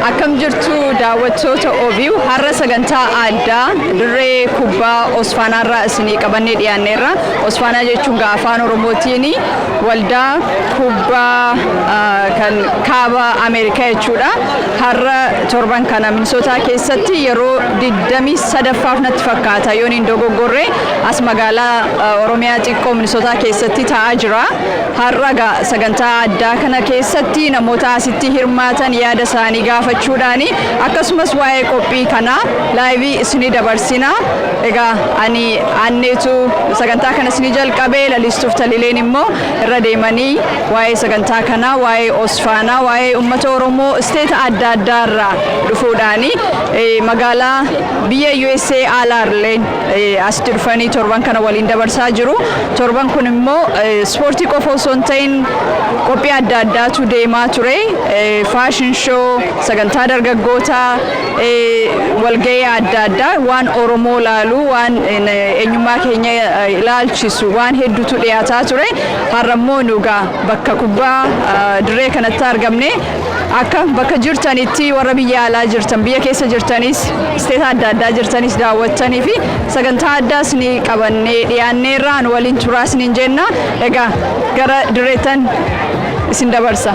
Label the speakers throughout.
Speaker 1: Akkam jirtu daawwattoota OBU har'a sagantaa addaa dirree kubbaa Osfaanaarraa isinii qabannee dhiyaanneerra. Osfaanaa jechuun gaa afaan Oromootiin waldaa kubbaa ah, kan kaaba Ameerikaa jechuudha. Har'a torban kana Minisootaa keessatti yeroo 23ffaaf natti fakkaata yoon hin dogoggorre as magaalaa ah, Oromiyaa xiqqoo Minisootaa keessatti ta'aa jira. Har'a egaa sagantaa addaa kana keessatti namoota asitti hirmaatan yaada isaanii gaafachuudhaani akkasumas waa'ee qophii kanaa laayivii isinii dabarsina. Egaa ani aanneetu sagantaa kana isinii jalqabee lalistuuf talileen immoo irra deemanii waa'ee sagantaa kanaa waa'ee Osfaanaa waa'ee uummata Oromoo isteeta adda addaa irraa dhufuudhaani eh, magaalaa biyya USA aalaarlee asitti dhufanii torban kana waliin dabarsaa jiru. Torban kun immoo ispoortii qofa osoo hin ta'in qophii adda addaatu deemaa ture. Faashin shoo, sagantaa dargaggoota, walga'ii adda addaa waan Oromoo laalu, waan eenyummaa keenya ilaalchisu waan hedduutu dhiyaataa ture. Har'a immoo nugaa bakka kubbaa dirree kanatti argamne Akka bakka jirtanitti warra biyya alaa jirtan biyya keessa jirtanis isteeta adda addaa jirtanis daawwattanii fi sagantaa addaas ni qabannee dhiyaanneerraa nu waliin turaas niin jenna egaa gara dirreettan isin dabarsa.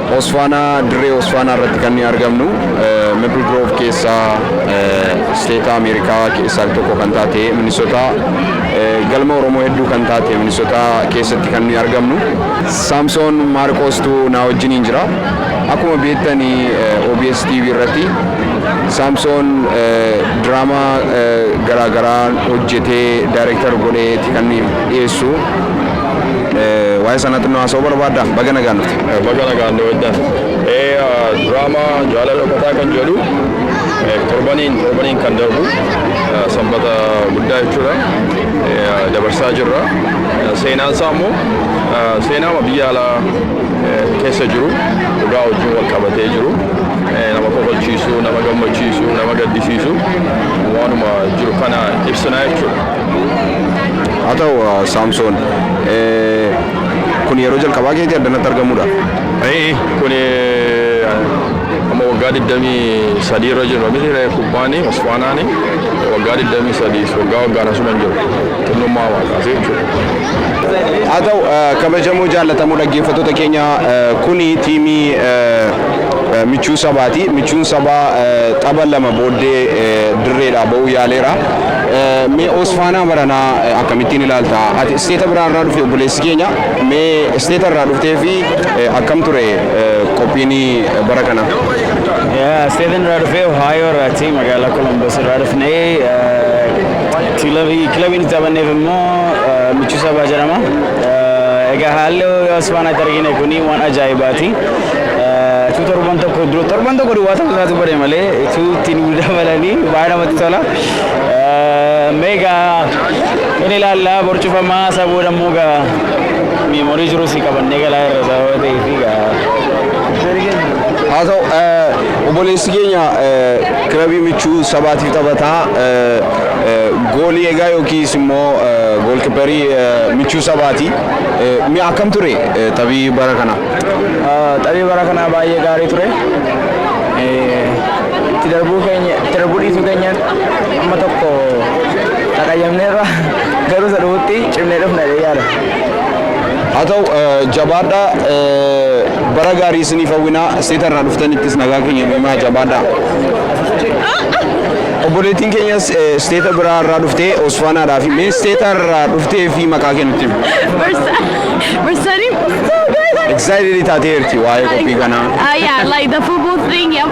Speaker 2: Osfaanaa dirree Osfaanaa irratti kan nuyi argamnu Maple Grove keessa isteeta Ameerikaa keessaa tokko kan taate Minnesota galma Oromoo hedduu kan taate Minnesota keessatti kan nuyi argamnu. Saamsoon Maarqoostu naa wajjiniin jira. Akkuma beektan OBS TV irratti Saamsoon diraamaa garaagaraa hojjetee daayireektar godheeti kan dhiyeessu. Waa'ee sanaa xinnoo haasa'uu barbaadda? Baga nagaan dhufte. Baga nagaan dhuftan.
Speaker 3: Diraamaa jaalala dhokataa kan jedhu torbaniin torbaniin kan darbu sanbata guddaa jechuudha dabarsaa jirra. Seenaan isaa immoo seenaama biyya alaa keessa jiru dhugaa wajjin wal qabatee jiru nama kofalchiisu nama gammachiisu nama gaddisiisu waanuma jiru kana ibsinaa jechuudha.
Speaker 2: Haa ta'u Saamsoon Kun yeroo jalqabaa keetii addanatti argamuudhaaf? Ee'e kun
Speaker 3: amma waggaa 23 irra jirra miti ree kubbaani osfaanaani waggaa 23 waggaa waggaan asuman jiru xinnummaa waan kaasee jechuudha. Haa ta'u
Speaker 2: kabajamoo jaallatamoo dhaggeeffattoota keenya kuni tiimii michuu sabaati. Michuun sabaa tapha lama booddee dirreedhaa ba'uu yaaleera. Mee Oosfaanaa baranaa akkamittiin ilaalta? Ati isteeta biraa irraa dhufte obboleessi keenya. Mee isteeta irraa dhuftee fi akkam ture qophiin bara kana? Isteetan
Speaker 4: irraa dhufee Ohaayoo irraati magaalaa Kolombos irraa dhufnee kilabiin itti taphanneef immoo Michuu Sabaa jedhama. Egaa haalli Oosfaanaatti argine kun waan ajaa'ibaati. Utuu torban tokko dura torban tokko duwwaa ta'uu isaatu bare malee utuu ittiin nu dabalanii baay'ee namatti tola. Meegaa in ilaallaa borcufamaa isa booda immoo gaa meemorii jiru si qabannee galaa irra sababa ta'eef gaa.
Speaker 2: haa ta'u eh, obboleessi keenya eh, kilabii michuu sabaatiif taphataa eh, eh, goolii egaa yookiis immoo eh, goolkiparii eh, michuu sabaati Eh, mi'a akkam ture eh, taphii bara kana Taphii
Speaker 4: bara kanaa baay'ee gaarii ture. itti darbuu keenya itti darbuu dhiisuu keenyaan amma tokko qaqayyamneerra garuu isa dhufutti cimnee dhufna jedhee yaada.
Speaker 2: haa ta'u eh, jabaadha eh, bara gaarii isiniif hawwinaa seeta irraa dhuftanittis nagaa keenya himaa jabaadha obboleettiin keenyas eh, isteeta biraa irraa dhuftee osfaanaadhaa fi mee isteeta irraa dhuftee fi maqaa kennutti hima. Bursari. Excited taatee jirti waa'ee qophii kanaa. Uh, yeah, like the
Speaker 5: football thing. Yeah,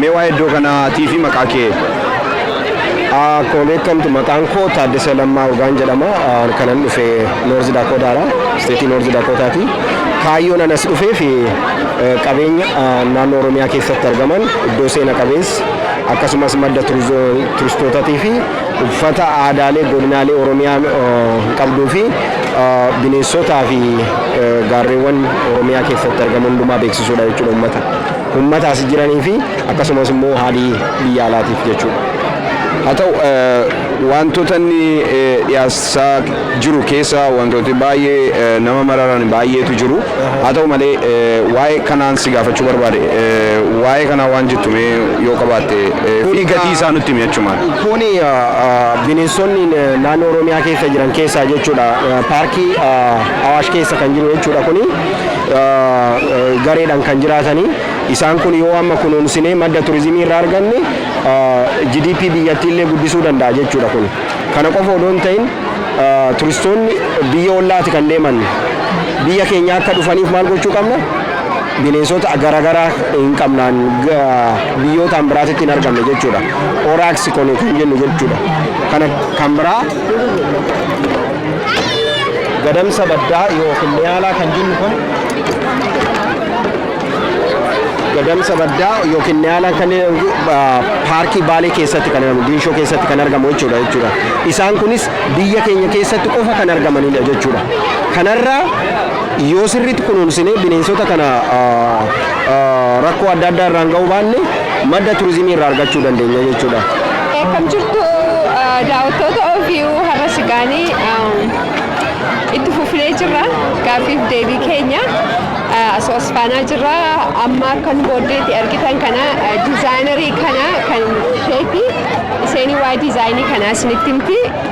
Speaker 2: Mee waa'ee iddoo kanaatii fi maqaa kee.
Speaker 6: Koleekkamtu maqaan koo Taaddasa Lammaa Urgaan jedhama. Kanan dhufe Noorzi Daakootaadha. Isteetii Noorzi Daakootaati. Kaayyoon anas dhufee fi qabeenya naannoo Oromiyaa keessatti argaman iddoo seena qabeessa akkasumas madda turistootaatii fi uffata aadaalee godinaalee Oromiyaa qabduu fi bineensotaa fi gaarreewwan Oromiyaa keessatti argamu hundumaa beeksisuudha jechuudha uummata. Ummata asi jiranii fi akkasumas immoo haalii biyya alaatiif jechuudha. Haa ta'u
Speaker 2: wantoota inni dhiyaasaa jiru keessa wantooti baay'ee nama mararan baay'eetu jiru. Haa ta'u malee waa'ee kanaan si gaafachuu barbaade. Waa'ee kanaa waan jettu mee yoo qabaatte fi gatii isaa nutti himi achumaan. Kuni
Speaker 6: bineensonni naannoo Oromiyaa keessa jiran keessaa jechuudha. Paarkii Awaash keessa kan jiru jechuudha kuni. gareedhan kan jiraatanii isaan kun yoo amma kunuunsinee madda turizimii irraa arganne GDP biyyattii illee guddisuu danda'a jechuudha kun kana qofa odoo hin ta'in turistoonni biyya ollaati kan deeman biyya keenya akka dhufaniif maal gochuu qabna bineensota garaagaraa hin qabnaan biyyootaan biraatitti hin argamne jechuudha oraaksi kone kan jennu jechuudha kana kan biraa Gadamsa baddaa yookiin niyaalaa kan jennu kun gadamsa baddaa yookiin niyaalaa kan jedhamu, ah, paarkii baalee keessatti kan argamu diinshoo keessatti kan argamu jechuudha jechuudha isaan kunis biyya keenya keessatti qofa kan argamanidha jechuudha kanarraa yoo sirriitti kunuunsinee bineensota kana ah, ah, rakkoo adda addaa irraan ga'uu baanne Madda turizimii irraa argachuu dandeenya jechuudha. Akkam jirtu
Speaker 5: daawwattoota OVU har'a sigaanii itti fufnee jirra gaaffiif deebii keenya asoo asfaanaa jirra amma akka nu booddeetti argitan kana dizaayinarii kana kan isheeti isheenii waa'ee dizaayinii kanaa isinitti himti.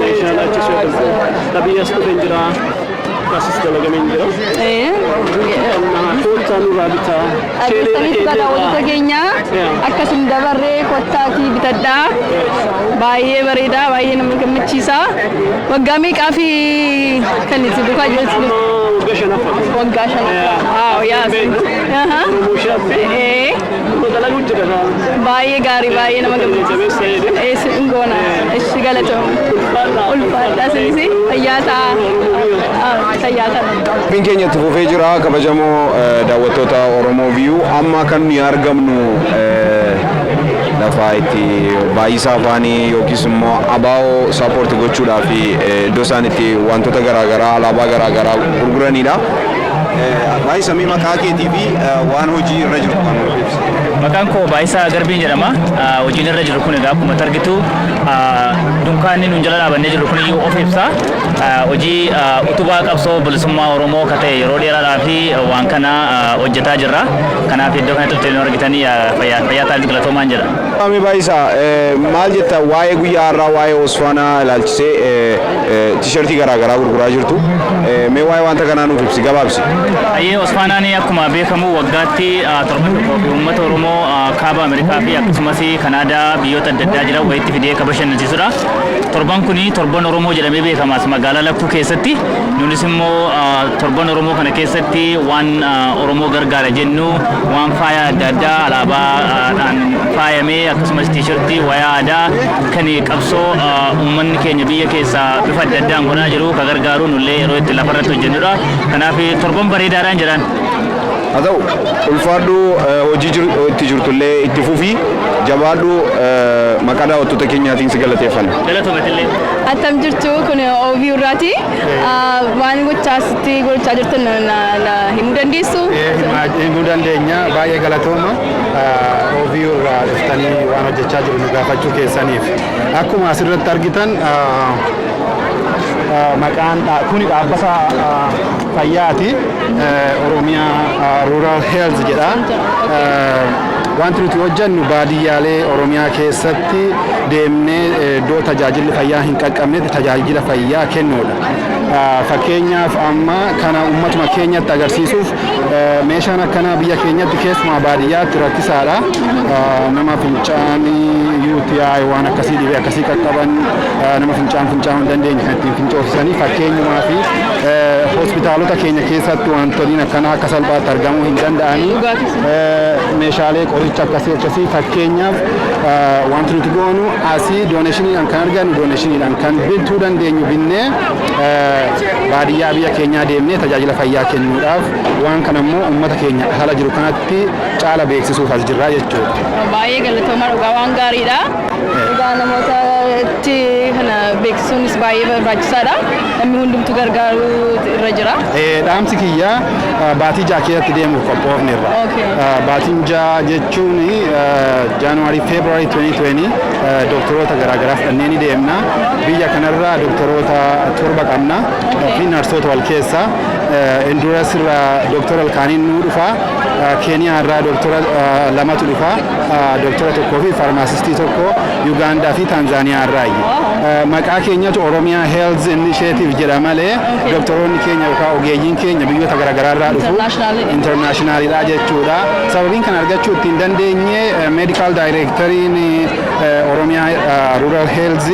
Speaker 4: meeshaan achi soodamtu qabii as dhufeen jira akkaasis dalagameen jira. Qonnaa koottaa nurraa bitaa. Dhageessanitti badaa
Speaker 1: walitti keenya akkasin dabarree kottaatii bitadhaa baay'ee bareedaa baay'ee nama gammachiisa waggaa meeqaa fi kan itti dukaa jirtu Waggaa shanaffaa. waggaa
Speaker 4: shanaffaa.
Speaker 1: Yaa Oromoo
Speaker 4: shaafii.
Speaker 1: Nurra dalagu jira gaa. Baay'ee gaarii baay'ee nama gammachiisa. Eessi hin goona. Eessi galatooma. Ulfaadhaa sinis fayyaa ta'a. Fayyaa ta'a. Qophiin
Speaker 2: keenya itti fufee jira kabajamoo eh, daawwattoota Oromoo Viyuu amma kan nuyi argamnu eh, lafa itti baay'isa afaanii yookiis immoo abaa'oo saapoorti gochuudhaaf eh, iddoo isaan itti wantoota garaagaraa alaabaa garaagaraa gurguranidha. Baay'isa mee maqaa keetii fi waan hojii irra jiru kan nuuf ibsu. Maqaan koo Baay'isaa
Speaker 7: Garbiin jedhama. Hojiin irra jiru kun egaa akkuma argitu dunkaanni nuun jala dhaabannee jiru kun iyyuu of ibsa. Hojii utubaa qabsoo bilisummaa Oromoo ka ta'e yeroo dheeraadhaa fi waan kana hojjetaa jirra. Kanaaf iddoo kanatti dhufte nu argitan fayyaa fayyaa taa'aatti galatoomaan jedha. Mee Baay'isa
Speaker 2: maal jetta waa'ee guyyaa har'aa waa'ee Osfaanaa ilaalchisee Tishertii garaa garaa gurguraa jirtu. Mee waa'ee wanta kanaa nuuf ibsi gabaabsi. Hayyee Osfaanaanii
Speaker 7: akkuma beekamu waggaatti torban tokkoo fi uummata Oromoo kaaba Ameerikaa fi akkasumas Kanaadaa biyyoota adda addaa jiran walitti fidee kan bashannansiisudha. Torban kun torban Oromoo jedhamee beekamas magaalaa Lakkuu keessatti. Nunis immoo torban Oromoo kana keessatti waan Oromoo gargaara jennu waan faaya adda addaa alaabaadhaan faayamee akkasumas tiishartii wayaa aadaa Kan qabsoo uummanni keenya biyya keessaa bifa adda addaan godhaa jiru ka gargaaru nullee yeroo itti lafa irratti hojjennudha. Kanaaf torban bareedaadhaan jedhaan. Haa ta'u
Speaker 2: ulfaadhu hojii itti jirtullee itti fufi jabaadhu maqaa daawwattoota keenyaatiin si galateeffanna. Galatomatillee.
Speaker 7: Attam jirtu
Speaker 1: kun OB irraati. Waan gochaa sitti gochaa jirtan himuu dandeessu. Himuu
Speaker 8: dandeenya baay'ee galatooma. OVU irraa dhuftanii waan hojjechaa jiru nu gaafachuu keessaniif. Akkuma asirratti argitan maqaan kuni dhaabbata fayyaati. Oromiyaa Rural Health jedha. Wanti nuti hojjennu baadiyyaalee Oromiyaa keessatti deemnee iddoo tajaajilli fayyaa hin qaqqabnetti tajaajila fayyaa kennuudha. Fakkeenyaaf amma kana uummatuma keenyatti agarsiisuuf Meeshaan akkanaa biyya keenyatti keessumaa baadiyyaatti rakkisaadha. Nama fincaan UTI waan akkasii dhibee akkasii qaqqaban nama fincaan fincaa'uu hin dandeenye kan ittiin fincoofsisanii fakkeenyumaa fi hospitaalota keenya keessatti wantoonni akkanaa akka salphaatti argamuu hin danda'anii meeshaalee qoricha akkasii akkasii fakkeenyaaf wanti nuti goonu asii dooneeshiniidhaan kan argannu dooneeshiniidhaan kan bituu dandeenyu binnee baadiyyaa biyya keenyaa deemnee tajaajila fayyaa kennuudhaaf waan kana immoo uummata keenya haala jiru kanatti caala beeksisuuf as jirraa jechuudha. Baay'ee galatooma
Speaker 1: dhugaa waan gaariidha. Dhugaa namoota itti kana beeksisuunis baay'ee barbaachisaadha. Namni hundumtu gargaaruu irra jira. Dhaamsi kiyya
Speaker 8: baatii ja'a keessatti deemuuf qophoofneerra. Baatiin ja'a jechuun January February 2020 Doktoroota garaagaraas dhannee ni deemna. Biyya kanarra doktoroota torba qabna fi narsoota wal keessa. Induras irra doktora ilkaaniin nuu dhufa. Keeniyaa irraa doktora lamatu dhufa. Doktora tokkoo fi faarmaasistii tokko Yugaandaa fi Taanzaaniyaa irraayi. Maqaa keenyatu Oromiyaa Health Initiative jedha malee doktoroonni keenya yookaan ogeeyyiin keenya biyyoota garaagaraa irraa dhufu. Internaashinaaliidha jechuudha. Sababiin kana argachuu ittiin dandeenye meedikaal daayireektariin Oromiyaa Rural Health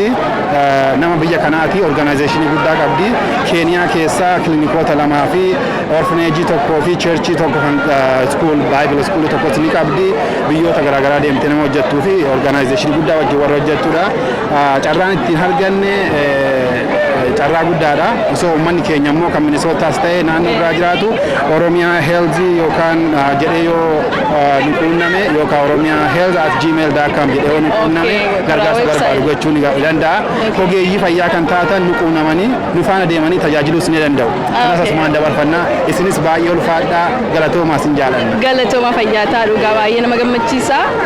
Speaker 8: nama biyya kanaati. Organaayizeeshinii guddaa qabdi. Keeniyaa keessa kilinikoota lamaa fi orfineejii tokkoo fi cheerchii tokko kan iskuul baayibila iskuulii tokkos ni qabdi. Biyyoota garaagaraa deemtee nama hojjettuu fi organaayizeeshinii guddaa wajjin warra hojjettudha. Carraan ittiin arganne carraa guddaadha. Osoo uummanni keenya immoo kan Minisootaas ta'e naannoo biraa jiraatu Oromiyaa Heelzii yookaan jedhee yoo nu quunname yookaan Oromiyaa Heelz at gmail dot com jedhee yoo nu quunname gargaarsa barbaadu gochuu ni danda'a. Ogeeyyii fayyaa kan taatan nu quunnamanii nu faana deemanii tajaajiluus ni danda'u. Kanas asumaan dabarfanna. Isinis baay'ee ulfaadhaa galatoomaa sin jaalanna. Galatoomaa fayyaa ta'a
Speaker 1: dhugaa baay'ee nama gammachiisa.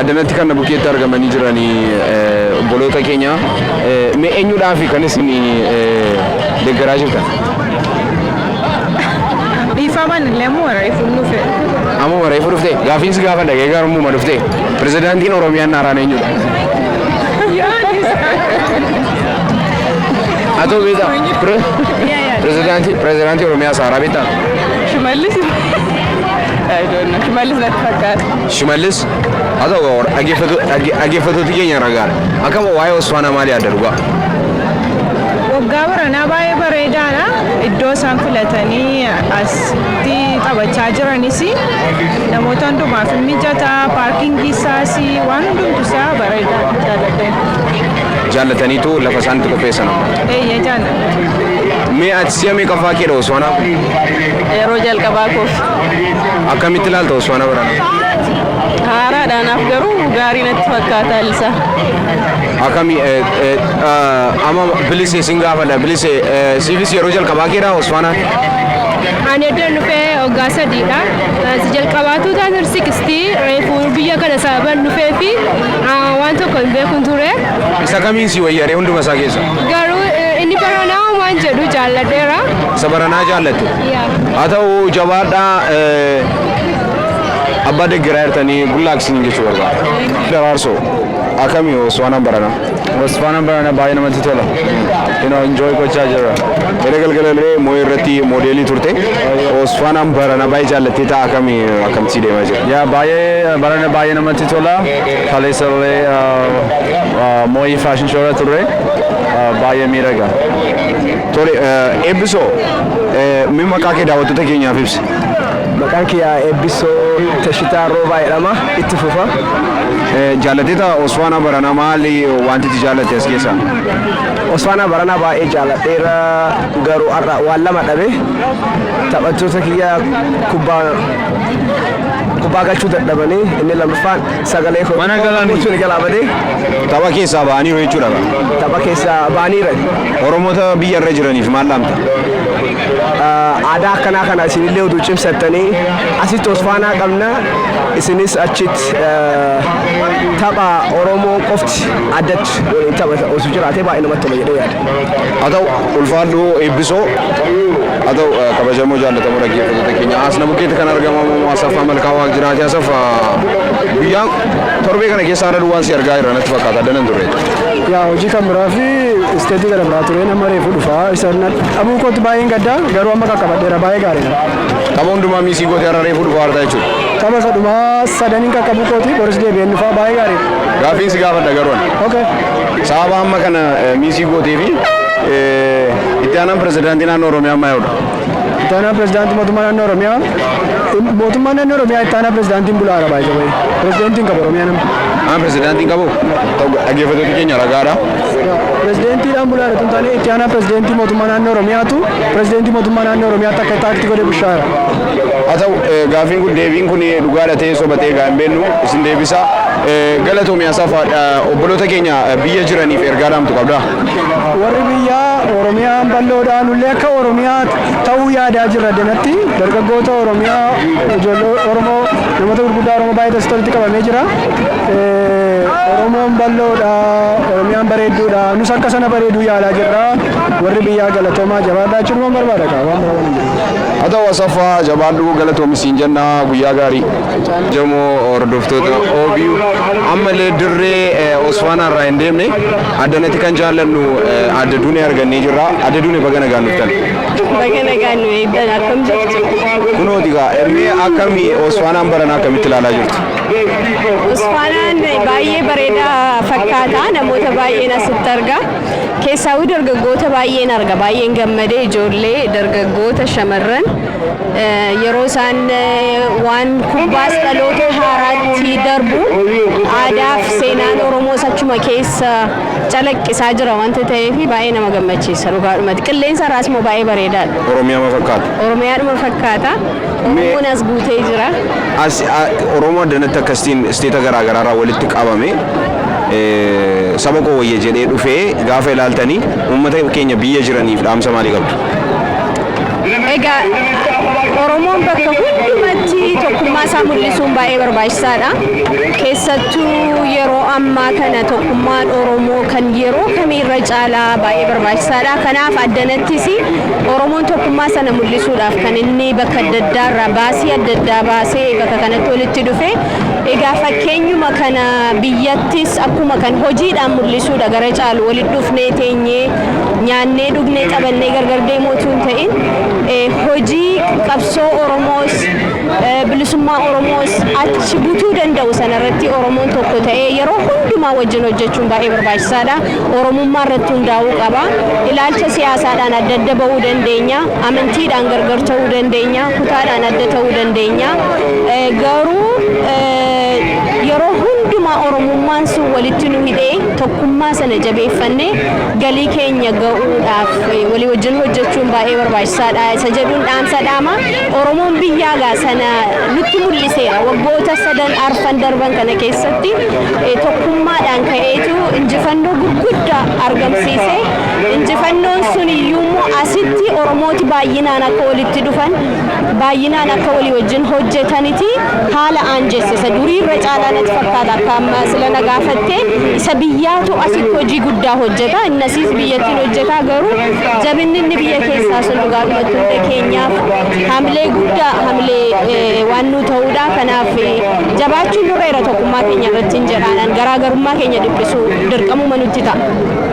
Speaker 2: Addanatti kan na bukkeetti argamanii jiran obboloota keenya mee eenyudhaafi kan isin deeggaraa jirtan?
Speaker 1: Dhiifaman illee immoo reefuun dhufe. Ammuma reefu
Speaker 2: dhufte gaafiin si gaafadha gee garumuma dhufte pirezidaantiin Oromiyaan haaraan eenyudha? Atoo beektaa? Pire- Pirezidaantii pirezidaantii Oromiyaa haaraa beektaa? Shimallis. I
Speaker 1: don't know. Shimallis natti fakkaata. Shimallis,
Speaker 2: Haa ta'u kaa warra dhaggeeffatu- dhagge- dhaggeeffatooti keenya irra gaara. Akkam waa'ee Osfaanaa maal yaadda dhugaa?
Speaker 1: Waggaa baranaa baay'ee bareedaadha. Iddoo isaan filatanii asitti taphachaa jiranis namoota hundumaaf hin mijata. Paarkingii isaas waan hundumtu isaa bareedaadha jaalladhee. Jaallataniitu
Speaker 2: lafa isaan itti qopheessan amma. Eeyyee jaalladha.
Speaker 1: Mee ati si'a
Speaker 2: meeqaffaa keedha Osfaanaa? Yeroo
Speaker 1: jalqabaa koof. Akkamitti
Speaker 2: ilaalta Osmaana Baranaa? Haaraadha
Speaker 1: naaf garuu gaarii natti fakkaata haalli isaa. Akkami
Speaker 2: eh, eh, eh, amma bilise sin gaafadha bilise eh, siifis yeroo jalqabaa keedha Osmaana? Ani
Speaker 5: eddan dhufee waggaa sadiidha. Si jalqabaatu taasir sikisti reefu biyya kana sababan dhufee fi ah, waan tokko hin beekun ture. Isa kamiin si
Speaker 2: wayyaree hunduma isaa keessa? Garuu eh, inni
Speaker 5: baranaa waan jedhu jaalladheera. Isa baranaa
Speaker 2: jaallatte? haa ta'u jabaadhaa abbaa deggeraa jirtanii gullaak isin jechuu barbaada. Daraarsoo akkamii Osfaanaan barana? Osfaanaan barana
Speaker 9: baay'ee namatti tola. You know, enjoy gochaa jirra. Gara galgala illee
Speaker 2: moo'ee irratti moodeelii turte. Osfaanaan barana baay'ee jaallattee ta'a akkamii akkamtii deemaa jira? Yaa baay'ee
Speaker 9: barana baay'ee namatti tola. Kaleessa illee moo'ii faashin shoora turre baay'ee miidhaga. Tole
Speaker 2: Eebbisoo mee maqaa kee daawwattoota keenyaaf ibsi. Maqaan kiyya
Speaker 4: Eebbisoo Tashitaa Roobaa jedhama. Itti fufa.
Speaker 2: Jaallateeta Osfaanaa Baranaa maali wanti itti jaallatte as keessaa? Osfaanaa
Speaker 4: Baranaa baay'ee jaalladheera garuu har'a waan lama dhabe taphattoota kiyya kubbaa kubbaa galchuu dadhabanii inni lammaffaan Sagalee koo Mana galan. gochuun
Speaker 2: jalaa badee
Speaker 4: Tapha keessaa
Speaker 2: ba'aniiru jechuudha. kaa. tapha keessaa
Speaker 4: baaniira. Oromoota
Speaker 2: biyya irra jiraniif maal dhaamta?
Speaker 4: Aadaa akkanaa kana isinillee utuu cimsattanii asitti osfaanaa qabna isinis achitti eh, tapha Oromoo qofti addatti waliin taphata osoo jiraatee baay'ee namatti tola jedhee yaada. Haa ta'u ulfaadhu
Speaker 2: eebbisoo. Haa ta'u kabajamoo jaallatamoo dhaggeeffattoota keenya asna bukkeetti kan argamamu Asaffaa Malkaa Waaq jiraate Asaffaa guyyaa torbee kana keessa haala duwwaan si argaa jira natti fakkaata adda nan turre. Yaa hojii kan
Speaker 10: biraa fi isteetii gara biraa tureen amma reefu dhufa isa dhabuu kootti baay'een gadda garuu amma qaqqabadheera baay'ee gaariidha. Tapha hundumaa
Speaker 2: miisii gootee har'a reefu dhufa harta jechuudha. Tapha sadhumaa
Speaker 10: sadaniin qaqqabuu kooti boris deebi'een dhufa baay'ee gaariidha. Gaaffiin si gaafadha garuu
Speaker 2: ani. Okay. Sababa hamma kana miisii gootee fi itti aanaan pirezidaantii naannoo Oromiyaa ammaa yaa'udha. Itti aanaa
Speaker 10: pirezidaantii mootummaa naannoo Oromiyaa mootummaa naannoo Oromiyaa itti aanaa pirezidaantiin bulaa arabaa isa bahe pirezidaantiin qaba Oromiyaa nama. Aan pirezidaantiin qabu
Speaker 2: dhaggeeffattoota keenya ragaadha. Pirezidaantiidhaan
Speaker 10: bulaa irratti hin taane itti aanaa pirezidaantii mootummaa naannoo Oromiyaatu pirezidaantii mootummaa naannoo Oromiyaatti akka itti aakti godhe bushaara. Haa ta'u
Speaker 2: gaafiin kun deebiin kun dhugaadha ta'ee soba ta'ee gaa hin beennu isin deebisa. Galatoomi Asafa obboloota keenya biyya jiraniif ergaa dhaamtu qabdaa? Warri
Speaker 10: biyyaa Oromiyaan bal'oodhaa nullee akka Oromiyaa ta'uu yaadaa jirra danatti dargaggoota Oromiyaa ijoollee Oromoo namoota gurguddaa Oromoo baay'ee dasta walitti qabamee jira. Oromoon bal'oodha Oromiyaan bareedduudha nus akka sana bareeduu yaalaa jirra warri biyyaa galatoomaa jabaadhaa jechuun barbaada kaa waan barbaadu. Haa ta'u
Speaker 2: Asaffaa jabaadhu galatoomi siin jenna guyyaa gaarii. Jamoo hordoftoota OBU ammallee dirree eh, Osfaanaa irraa hin deemne addanatti kan jaallannu eh, adda duunee argannee jirra. Adda duunee baga nagaan dhuftan. Baga nagaan
Speaker 5: nu eegdan akkam jirtu? Kunooti gaa
Speaker 2: mee akkami Osfaanaan barana akkamitti ilaalaa jirtu?
Speaker 5: Usfaanaan baay'ee bareedaa fakkaata. Namoota baay'een asitti arga. Keessaawuu dargaggoota baay'een arga baay'een gammade ijoollee dargaggoota shamarran yeroo isaan waan kubbaas dhaloota haaraatti darbuun aadaaf seenaan Oromoos achuma keessa calaqqisaa jira wanta ta'eef baay'ee nama gammachiisa dhugaadhumatti qilleensa irraas immoo baay'ee bareedaadha. Oromiyaama fakkaata.
Speaker 2: Oromiyaadhuma fakkaata.
Speaker 5: Oromoon as guutee jira. As
Speaker 2: Oromoo addanatti akkasitiin isteeta garaa garaarraa walitti qabame. Saba koo wayya jedhee dhufe gaafa ilaaltani uummata keenya biyya jiraniif dhaamsa maalii qabdu?
Speaker 5: Egaa Oromoon bakka hundumatti tokkummaa isaa mul'isuun baay'ee barbaachisaadha. Keessattuu yeroo ammaa kana tokkummaan Oromoo kan yeroo kamii irra caalaa baay'ee barbaachisaadha. Kanaaf addanattis Oromoon tokkummaa sana mul'isuudhaaf kan inni bakka adda addaa irraa baasii adda addaa baasee bakka kanatti walitti dhufe Egaa fakkeenyuma kana biyyattis akkuma kan hojiidhaan mul'isuudha gara caalu walitti dhufnee teenyee nyaannee dhugnee taphannee gargar deemuu utuu hin ta'in eh, hojii qabsoo Oromoos eh, bilisummaa Oromoos achi butuu danda'u sanarratti Oromoon tokko ta'ee yeroo hundumaa wajjin hojjechuun baay'ee barbaachisaadha. Oromummaa irratti hundaa'uu qaba. Ilaalcha siyaasaadhaan adda adda ba'uu dandeenya. Amantiidhaan gargar ta'uu dandeenya, kutaadhaan adda ta'uu dandeenya. Garuu yeroo hundumaa Oromummaan sun walitti nu hidhee tokkummaa sana jabeeffannee galii keenya ga'uudhaaf walii wajjin hojjechuun baay'ee barbaachisaadha isa jedhuun dhaamsa dhaama. Oromoon biyyaa gaa sana nutti mul'iseera. Waggoota sadan arfan darban kana keessatti tokkummaadhaan ka'eetu injifannoo gurguddaa argamsiise. Injifannoon sun iyyuu immoo asitti Oromooti baay'inaan akka walitti dhufan, baay'inaan akka walii wajjin hojjetaniti haala aanjessisa. Durii irra caalaa natti fakkaata akka amma sila na gaafatte isa biyyaatu asitti hojii guddaa hojjeta. Inni asiis biyyattiin hojjeta garuu jabinni inni biyya keessaa sun dhugaadhumatti hunda keenyaaf hamilee guddaa hamilee eh, waan nu ta'uudha. Kanaaf eh, jabaachuun nurra jira tokkummaa keenya irratti hin jedhaanan garaagarummaa keenya dhiphisuu dirqamuma nutti ta'a.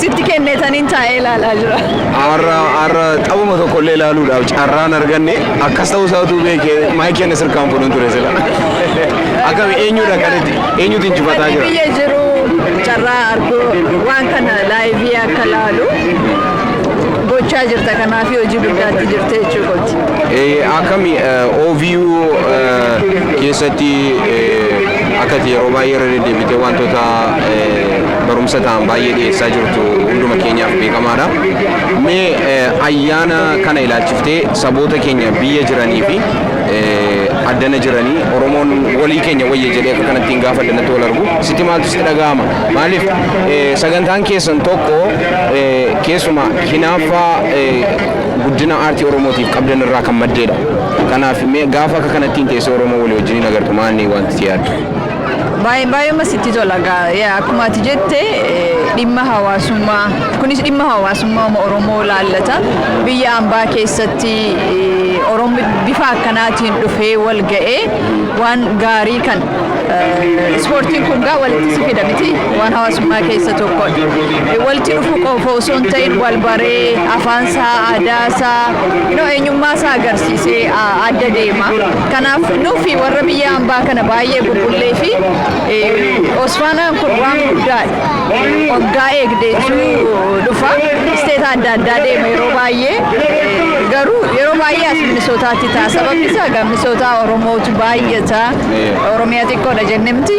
Speaker 1: Sitti kenneetaniin taa'ee ilaalaa jira. Har'a har'a
Speaker 2: taphuma tokkollee ilaaluudhaaf carraan arganne akkas ta'uu isaa utuu beekee maayikii inni sirkaan fuudhan ture sila. Akkami eenyudha kan itti eenyutu injifataa jira? Biyya jiru
Speaker 1: carraa arguu waan kana laayivii akka laalu gochaa jirta kanaaf hojii guddaatti jirte jechuu kooti. Eh, Akkami
Speaker 2: eh, OVU eh, keessatti eh, akkati yeroo baay'ee irra deddeebitee wantoota eh, barumsa ta'an baay'ee dhiyeessaa jirtu hunduma keenyaaf beekamaadha. Mee ayyaana kana ilaalchiftee saboota keenya biyya jiranii fi addana jiranii Oromoon walii keenya wayya jedhee akka kanatti hin gaafa addanatti wal argu sitti maaltu sitti dhaga'ama? Maaliif sagantaan keessan tokko keessuma hinaaffaa guddina aartii Oromootiif qabdan irraa kan maddeedha. Kanaaf mee gaafa akka kanatti hin teessee Oromoo walii wajjin hin agartu maanni wanti si yaaddu? Baay'ee
Speaker 1: baay'eema sitti tola gaa yaa akkuma ati jette eh, dhimma hawaasummaa kunis dhimma hawaasummaa uma Oromoo laallata biyya ambaa keessatti eh, Oromo bifa akkanaatiin dhufee wal ga'ee waan gaarii kan eh, ispoortiin kun gaa walitti si fida miti waan hawaasummaa keessa tokko Eh, walitti dhufu qofa osoo hin ta'in wal baree afaan isaa aadaa isaa you know, eenyummaa isaa agarsiisee ah, adda deema. Kanaaf nuufi warra biyya hambaa kana baay'ee bubbullee fi Osfaanaan kun waan guddaadha. Waggaa eegdee dhufa. Isteeta adda addaa deema yeroo baay'ee. Garuu yeroo baay'ee as Minisootaatti ta'a. Sababni isaa egaa Minisootaa Oromootu baay'ata. Oromiyaa xiqqoodha jenne miti.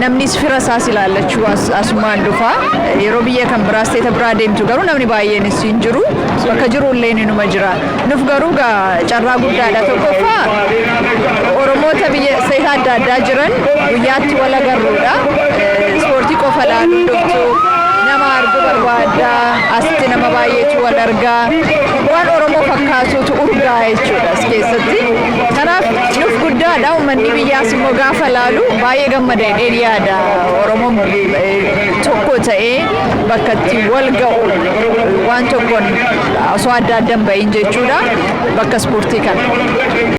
Speaker 1: Namnis fira isaas ilaallachuu asumaan dhufa. Yeroo biyya kan biraa isteeta biraa deemtu garuu namni baay'eenis hin jiru. Bakka jiru illee inuma jira. Nuf garuu gaa carraa guddaadha tokkoffaa Oromoota biyya seetaa adda addaa jiran guyyaatti wal agarruudha. Ispoortii qofa laaluu dhuftu nama argu barbaadda asitti nama baay'eetu wal argaa waan Oromoo fakkaatutu urgaa jechuudha as keessatti. Kanaaf nuf guddaadha uummanni biyyaas immoo gaafa laalu baay'ee gammada jedheen yaada Oromoon tokko ta'ee bakka itti wal ga'u waan tokkoon osoo adda adda hin ba'iin jechuudha bakka ispoortii kana.